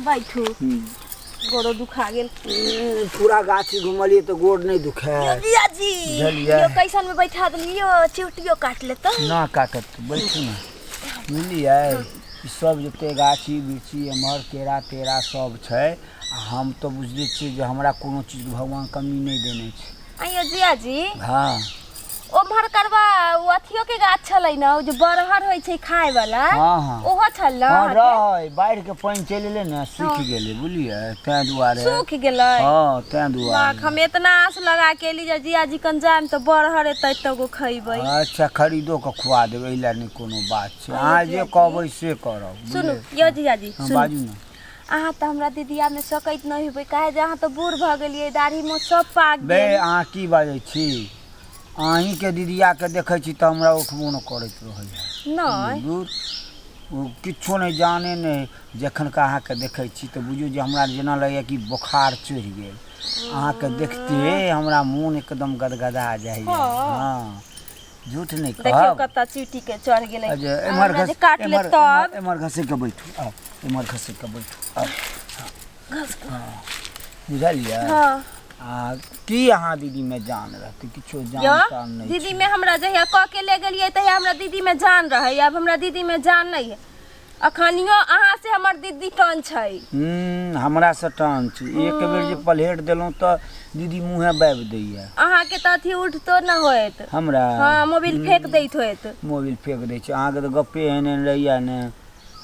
बैठू गोड़ो दुखा गेल पूरा गाछी घुमलिए तो गोड़ नहीं दुखे योगिया जी बुझलियै। यो कैसन में बैठा देली यो चिवटियो काट लेता ना काटत तू बैठू ना बुझलियै ई सब जते गाछी बिरछी एम्हर केरा तेरा सब छै आ हम तो बुझले छियै जे हमरा कोनो चीज भगवान कमी नहि देने छै आइयो जिया जी हाँ ओम्हर करबा ओ अथियो के गाछ छलै ने ओ जे बरहर होइ छै खाय वाला हाँ हाँ ओहो छल ने हाँ अहाँके? रहै बाढ़ि के पानि चलि एलै ने सूखि गेलै बुझलियै ताहि दुआरे सूख गेलै हाँ ताहि बाक दुआरे हम इतना आस लगा के एली जे जिया जी कन जाएम तऽ बरहर एतै तऽ गो खैबै अच्छा खरीदो के खुआ देबै एहि लए नहि कोनो बात छै अहाँ जे कहबै से करब सुनू बुझलियै? यो जिया जी हाँ, सुनू बाजू ने अहाँ तऽ हमरा दीदिया में सकैत नहीं हेबै काहे जे अहाँ तऽ बूढ़ भऽ गेलियै दाढ़ी में सब पाक बे गेल अहाँ की बाजै छी अहींके दीदियाके देखै छी तऽ हमरा उठबो नहि करैत रहैए नहि दूर ओ किछो नहि जाने नहि जखन का अहाँके देखै छी तऽ बुझियौ जे हमरा जेना लगैए कि बोखार चढ़ि गेल अहाँके देखते हमरा मोन एकदम गदगदा जाइए हँ। हँ झूठ नहीं कह देखियो कत्ता चीटी के चढ़ गेले अजे एमर घस काट ले तब एमर घसे के बैठू आ एमर घसे के बैठू आ घस के हाँ। बुझा लिया हां आ की यहां दीदी में जान रहते किछो जान जान नहीं दीदी में हमरा जहिया क के ले गेलिए तहिया हमरा दीदी में जान रहे अब हमरा दीदी में जान नहीं है अखनियो अहाँ से हमर दीदी टन छै हम्म, हमरा से टान छै एक बेर जे पलेट देलहुँ तऽ दीदी मुँहे बाबि दैया अहाँ के तऽ अथी उठतो न होत हमरा हाँ मोबाइल फेंक दैत होत मोबिल फेंक दै छै अहाँके तऽ गप्पे एहन एहन रहैया ने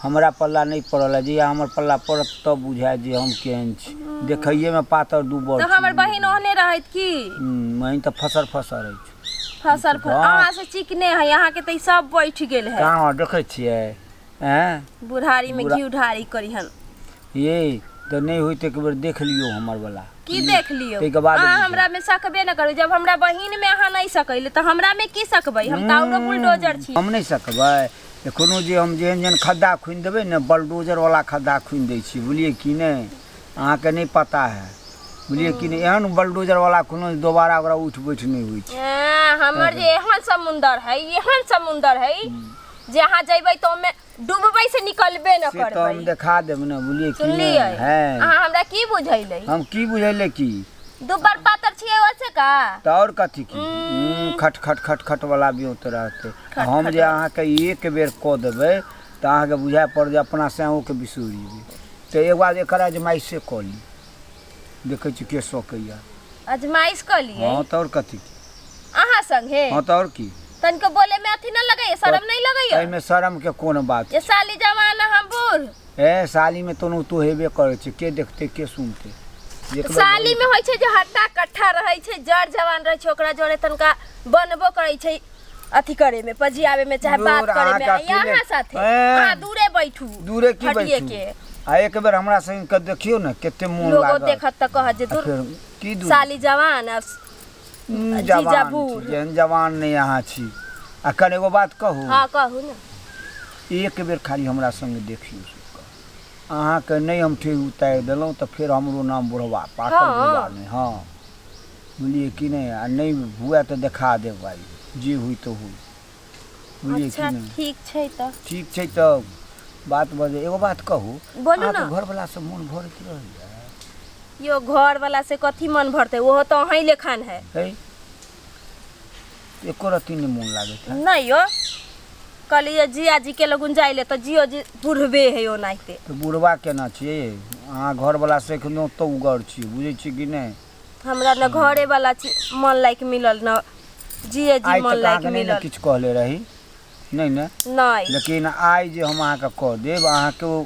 हमरा पल्ला नहि पड़ल है जहिया हमर पल्ला पड़त तब बुझाय जे हम केहन छी देखैये में पातर दू बड़ तऽ हमर बहिन ओहने रहत की बहिन तऽ फसर फसर अछि फसल फल वाह। अहाँ से चिकने है यहाँ के तो ई सब बैठ गेल है कहाँ देखै छियै एँ बुढ़ारी में बुढ़ा- घी उढ़ारी करी हम ये तऽ नहि होइत एक बेर देख लियौ हमर बला की देख लियो ताहिके बाद अहाँ बुझब। हमरा में सकबे न करू जब हमरा बहिन में अहाँ नहीं सकैले तो हमरा में की सकबै हम ताउरो बुलडोजर छी हम नहि सकबै एखनो जे हम जेहन जेहन खड्डा खुनि देबै ने बलडोजर वाला खड्डा खुनि दै छियै बुझलियै कि नहि अहाँके नहि पता है बुझलियै कि नहि एहन बलडोजर वाला कोनो दोबारा ओकरा उठि बैठ नहि होइ छै एँ, हमर जे एहन समुंदर है एहन समुंदर है जे अहाँ जैबै तऽ ओमे डूबबै से निकलबे न से तऽ हम करबै देखा देब ने बुझलियै कि सुनलियै नहि है अहाँ हमरा की बुझैलै हम की बुझैले की दुबर पातर छियै ओसे का तऽ आओर कथी की हम्म, खट खट खट खट वाला बियोत रहतै आ हम जे अहाँके एक बेर कऽ देबै तऽ अहाँके बुझाए पड़त जे अपना साँओके बिसरि जेबै तऽ एगो आज एकर आजमाइशे कऽ ली देखै छी के सकैए अजमाइश कऽ लिए हँ तऽ आओर कथी अहाँ संगे हँ तऽ आओर की तनिको बोले में अथी ना लगैया शर्म नहीं लगैया एहिमे शर्मके कोन बात ये साली जवान आ हम बूढ़ ए सालीमे तोनो तो हेबे करै छै के देखतै के सुनतै एक बेर साली में होइ छै जे हट्टा कट्ठा रहै छै जड़ जवान रहै छै ओकरा जोड़े तनिका बनबो करै छै अथी करे में पजियावे में चाहे बात दूर करे अहाँ में का यहाँ अकेले- साथे हैं। हाँ दूरे बैठू दूरे की हटिए बैठू के आ एक बेर हमरा संग के देखियो ने कते मोन लोगो लागल देखत त कह जे आ दूर फिर की दूर साली जवान आ हम्म, जीजा जवान बूढ़। छी, जेहन जवान नहीं अहाँ छी आ कने एगो बात कहू हाँ कहू ना एक बेर खाली हमरा संग देखियो अहाँके नहीं हम ठेह उतारि देलहुँ तऽ फेर हमरो नाम बुढ़वा पाकल हाँ। बुढ़वा नहि हँ बुझलिए कि नहि आ नहि हुए तऽ देखा देब भाइ जे हुई तऽ हुई बुझलिए अच्छा कि नहि ठीक छै तऽ ठीक छै तऽ बात बजे एगो बात कहू बोलू अहाँके ने। घरवलासँ मोन भरैत रहैए यो घर वाला से कथी मन भरते ओहो तो अही लेखन है है एको रत्ती नहि मोन लागैत है नहीं यो कहलिए जिया जी के लगुन जाइले तो जियो जी बुढ़बे है ओनाहिते तऽ बुढ़वा केना छियै अहाँ घरवलासँ एखनो तऽ उगर छियै बुझै छियै कि नहि हमरा न घरे वाला छी मन लायक मिलल न जिए जी आइ मन तक लायक अहाँके नहि ने मिलल किछु कहले रही नहि ने नहि लेकिन आइ जे हम अहाँके कह देब अहाँके ओ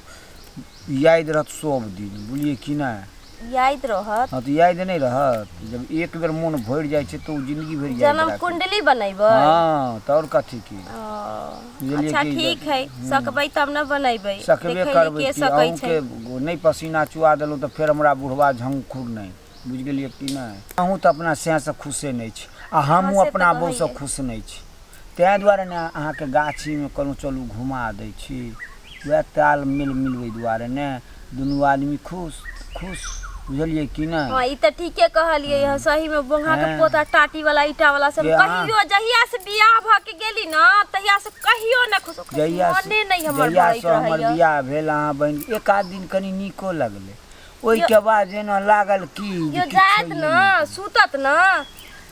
याद रहत सब दिन बुझलियै कि नहि याद रहत हँ तऽ याद नहि रहत जब एक बेर मोन भरि जाइ छै तऽ ओ जिंदगी भरि याद जन्म रहत कुंडली बनेबै हँ तऽ आओर कथी की ओ बुझलियै अच्छा कि जे ठीक हइ सकबै तब ने बनेबै सकबे देखै हियै करबै के कि सकै छै अहूँके नहि पसीना चुआ देलहुँ तऽ फेर हमरा बुढ़बा झंखुर नहि बुझि गेलियै कि नहि अहूँ तऽ अपना सएसँ खुशे नहि छी आ हँ हमहूँ से तऽ अपना कहै बहूसँ हियै खुश नहि छी ताहि दुआरे ने अहाँके गाछीमे कहलहुँ चलू घुमा दै छी उएह तालमेल मिलबै दुआरे ने दुनू आदमी खुश खुश बुझलिए कि ना हां ई त ठीके कहलिए ह सही में बोंगा के हाँ। पोता टाटी वाला ईटा वाला से जे हाँ। कहियो जहिया से बियाह भ के गेली ना तहिया से कहियो ना खुश खुश जहिया से- मने नहीं हमर जहिया भरैत से हमर रहैया बियाह भेल अहाँ बहन एक आध दिन कनी नीको लगलै ओहिके बाद जेना लागल की जे यो किछु जात होइए न नहि। सुतत न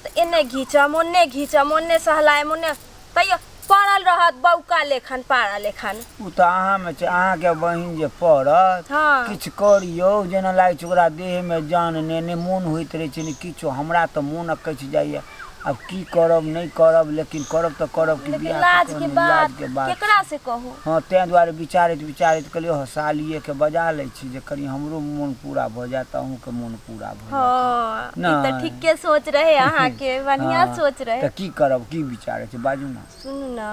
त एने घिचम ओने घिचम ओने सहलायम ओने तैयो पड़ल रहत बौका लेखन पारा लेखन उ त अहाँ में छै अहाँ के बहिन जे पड़त हाँ। किछ करियो जेना लागे छै ओकरा देह में जान ने ने मोन होइत रहे छै ने किछो हमरा त मोन अकैछ जाइए अब की करब नहीं करब लेकिन करब त करब कि लेकिन बियाह लाज के बात के बात केकरा से कहू हाँ तै दुआरे विचारित विचारित कहलियो सालिए के बजा लै छी जे कनी हमरो मोन पूरा भ जाए त अहूँ के मोन पूरा भऽ जायत। हँ ई तऽ नहि। ठीके सोच रहे अहाँके बढ़िया हँ, सोच रहे तऽ की करब की विचार छै बाजू ने सुनू ने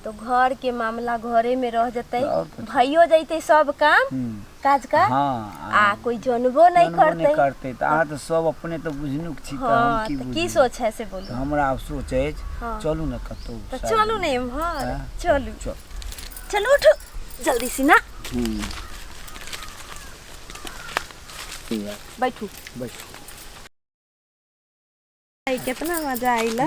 तो घर के मामला घरे में रह जतै और कथी? भइयो जैतै सब काम हम्म, काज का हँ आ कोई जनबो नहीं जनबो करतै नहि करतै तऽ अहाँ तऽ सब अपने तऽ बुझनुक छी तऽ हम हाँ की तऽ बुझी की सोच है से तऽ बोलू हमरा आब सोच अछि हँ। चलू ने कतहु तऽ साइड चलू मे। ने इम्हर हाँ, चलू चल चलू उठू जल्दी से ना हम्म। बैठू बैठू कितना मजा आइल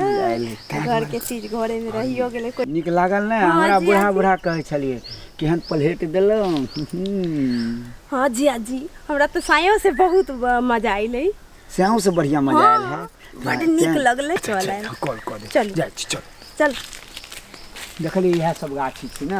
घर के चीज घरे में रहियो गेले कोई निक लागल ना हाँ हमरा जी, बुढ़ा आजी। बुढ़ा कहै छलिए केहन प्लेट देलहुँ हम्म। हाँ जी आजी हमरा तो सायो से बहुत ब- मजा आइल है स्याहू से बढ़िया मजा आयल है हाँ, बड नीक लगले चल आयल। कॉल कॉल चलू। जाइ छी चल चल देखली इएह सब गाछी छी ने